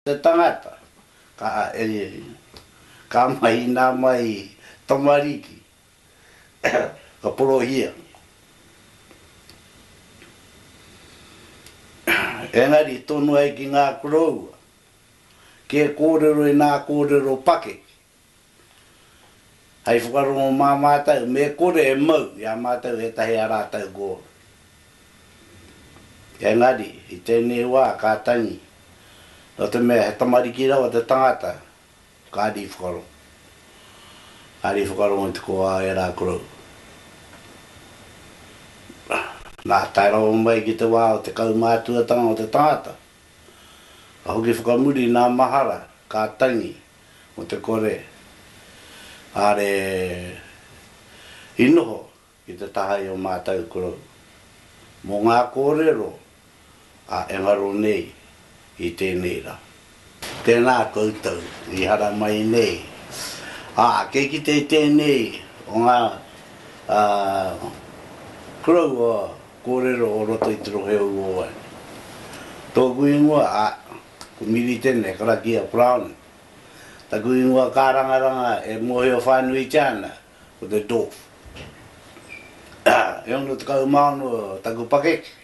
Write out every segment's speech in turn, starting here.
Te tangata, ka ariari mai. Ka mahina mai i tamariki, ka porohia. Engari i tonu ai ki ngā koroua, kē kōrero i nā kōrero pakeke, Hei whakarongo mā mātou, me kore e mau i a mātou ētahi a rātou gōna. Engari, i tēnei wā ka tangi, nō te mea he tamariki rawa te tangata, kāre i whakarongo. Kāre i whakarongo i te kōā o ērā korou. Nā, tae rawa mai ki te wā o te kaumātuatanga o te tangata, ka hoki whakamuri nā mahara, ka tangi, Mo te kore are i noho ki te taha i o matou korou mo nga korero a engaro nei i tenei ra. Tena koutou i haramai nei. A kei kite i tenei o nga korou a korero o roto i te rohe o Uowai. Toku ingoa a Ko Miri tēnei, karakia Browning. Taku ingoa kārangaranga e mōhio whānuitia ana, ko te Dwarf. E ono tekau mā ono taku pakeke,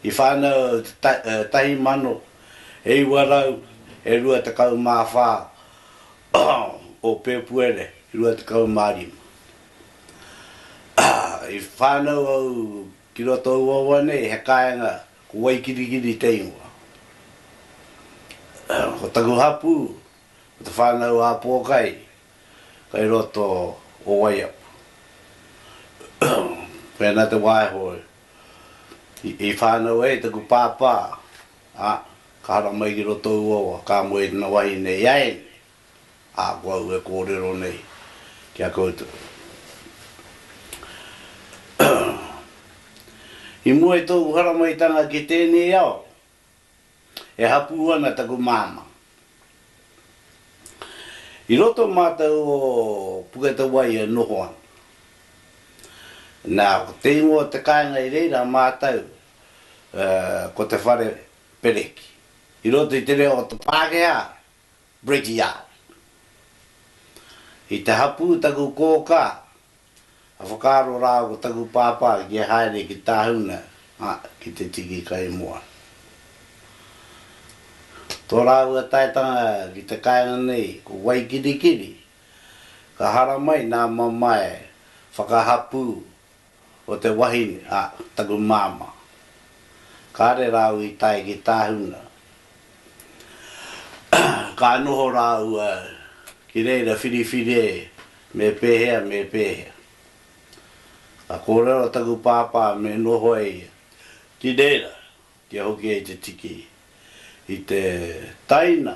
i whānau au i te tahi mano, e iwa rau, e rua tekau mā whā o Pēpuere rua tekau mā rima. I whānau au Ki roto i ua wa nei he kaenga ko Waikirikiri te ingoa. Ko taku hapu ko te whanau a Pokai kai roto o Waiapu. Pena te waeho i whanau ai taku pāpā a ka hara mai ki roto i ua wa ka moe tana wahine i a enei. Ā, ko au e kōrero nei ki a koutou, i mua i tōu haramaitanga ki tēnei ao, e hapū ana taku māmā. I roto mātou o Puketawaī e noho ana. Nā, ko te ingoa o te kāinga i reira mātou, ko Te Whare Pereki. I roto i te reo o te Pākehā, Bridge-Yard. I te hapū taku kōkā, ka whakaaro rā ko taku pāpā kia haere ki Tāhuna, ā, ki te tiki kaimoana. Tō rāua taetanga ki te kāinga nei ko Waikirikiri, ka haramai nā mamae whakahapū o te wahine a taku māmā. Kāre rāua i tae ki Tāhuna. Ka noho rāua ki reira whiriwhire me pēhea me pēhea. Ka kōrero taku pāpā me noho e ia ki reira kia hoki ai te tiki i te taina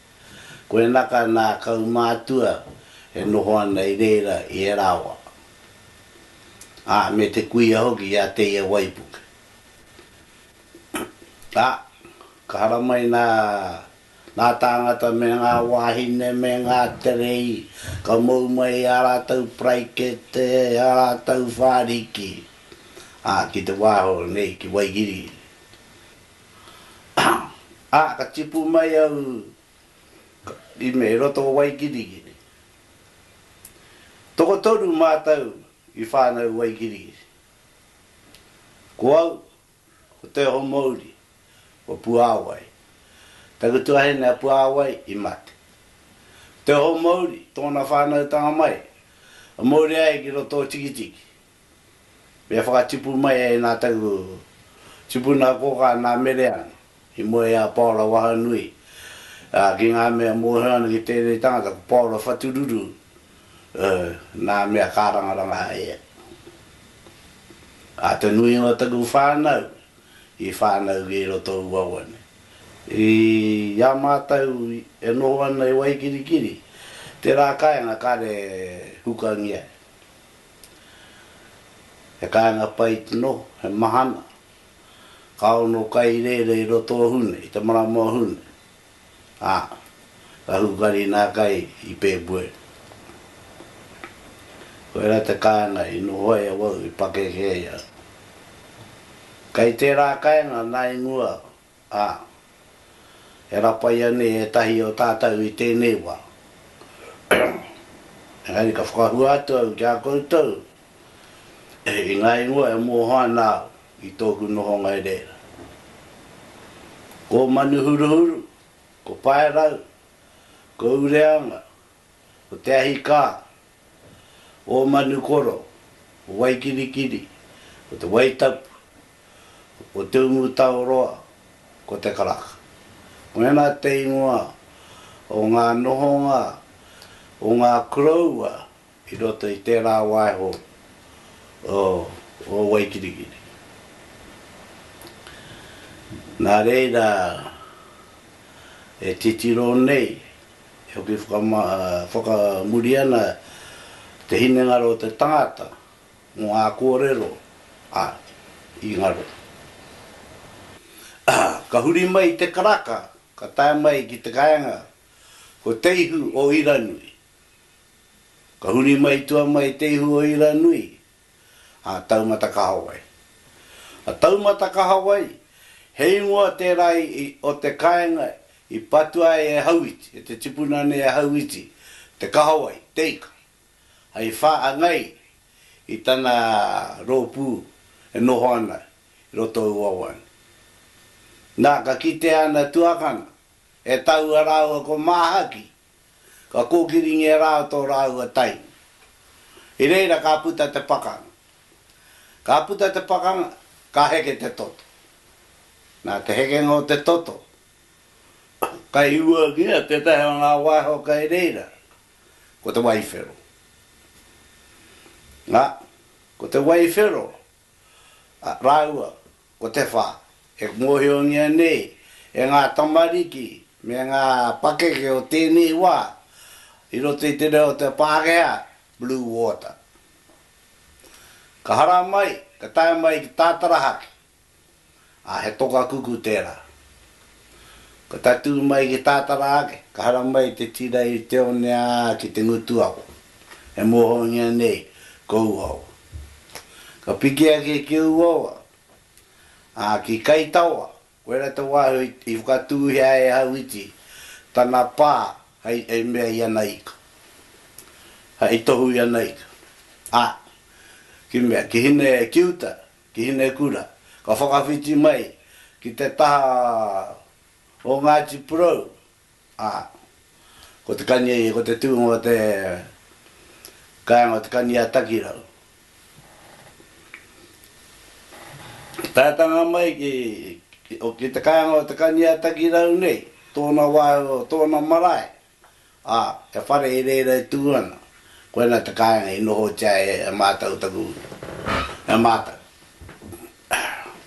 Koenaka nā kaumātua e noho ana i reira i ērā wā, ā, me te kuia hoki i a Teia waipuke. Ā, ka haramai nā ngā tāngata me ngā wāhine me ngā terei, ka mou mai ā rātou paraikete, ā rātou whāriki, ā, ki te wā hou nei ki Waikiri, Ā, ka tipu mai au i me roto o Waigirigiri. Tokotoru mātou i whānau Waigirigiri. Ko au, ko Teohomouri, ko Puāwai. Taku tuahine a Puāwai i mate. Teohomouri, tōna whānautanga mai, a mōria ai ki roto o Tikitiki. Me whakatipu mai ai nā taku tipuna kōkā nā Mereana i mua i a Paora Wahanui, ā, ki ngā mea mōhio ana ki tēnei tangata ko Paora Whatururu, ē, nā mea kārangaranga ai ia. Ā, te nuinga o taku whānau i whānau ki roto o Uawa nei. I a mātou e noho ana i Waikirikiri, tērā kāinga kāre hukangia e. He kāinga pai tno, he mahana. Ka ono kai rere i roto o Hune, i te marama o Hune, a, ka hukari nā kai i Pēpuere. Koira te kāinga i noho ai awau i pakeke ai au. Kai tērā kainga nā i mua Ā, e rapaia nei ētahi o tātou i tēnei wā. Engari ka whakahua atu au ki a koutou i ngā ingoa e mōhio ana au i tōku nohonga i reira. Ko Manuhuruhuru, ko Paerau, ko Ureanga, Ko te ahi kā, ō Manukoro, o Waikirikiri, ko te Waitapu, o Te Umutaoroa, ko te Karaka. Mēnā te ingoa o ngā nohonga o ngā koroua i roto i tērā waiho o Waikirikiri. Nā reira e titiro nei E hoki whakamuri ana te hinengaro o te tangata mō ngā kōrero a i ngaro. Ka huri mai i te karaka, ka tae mai ki te kāinga ko Te Ihu o Iranui. Ka huri mai tua mai Te Ihu o Iranui a Taumata Kahawai. A Taumata Kahawai, he ingoa tērā o te kāinga i patua ai e Hauiti, e te tipuna nei a Hauiti, te kahawai, te ika, hei whāngai i tana rōpū e noho ana i roto i Wawane. Nā, ka kitea ana tuakana e taua rāua ko Māhaki, Ka kōkiringia rā tō rāua tainu. I reira ka puta te pakanga. Ka puta te pakanga, ka heke te toto. Nā te hekenga o te toto, ka hiuangia tētahi o ngā waiho kei reira, ko te waiwhero. Nā, ko te waiwhero rāua Ko te whā, e mōhiongia nei e ngā tamariki me ngā pakeke o tēnei wā i roto i te reo o te Pākehā, Blue Water. Ka hara mai, ka tae mai ki Tātarahake, ā, he toka kuku tērā. Ka tatū mai ki Tātara ake, ka hara mai te tira i te one ā ki te ngutu ako, e mōhiongia nei ko Uawa. Ka piki ake ki Uawa, ā, ki Kaitaoa, koirā te wāhi i whakatūhia e Hauiti tana pā hei mea i ana ika, hei tohu i ana ika, ā, ki mea, ki Hine Kiuta, ki Hinekura, ka whakawhiti mai ki te taha o Ngāti Porou, ā, ko te kani, ko te tūnga o te kāinga o Te Kani-a-Takirau. Taetanga mai ki, ki te kāinga o Te Kani-a-Takirau nei, tōna wāhi, tōna marae, Ā, he whare i reira e tū ana, koinā te kāinga i nohotia e mātou taku, e mātou.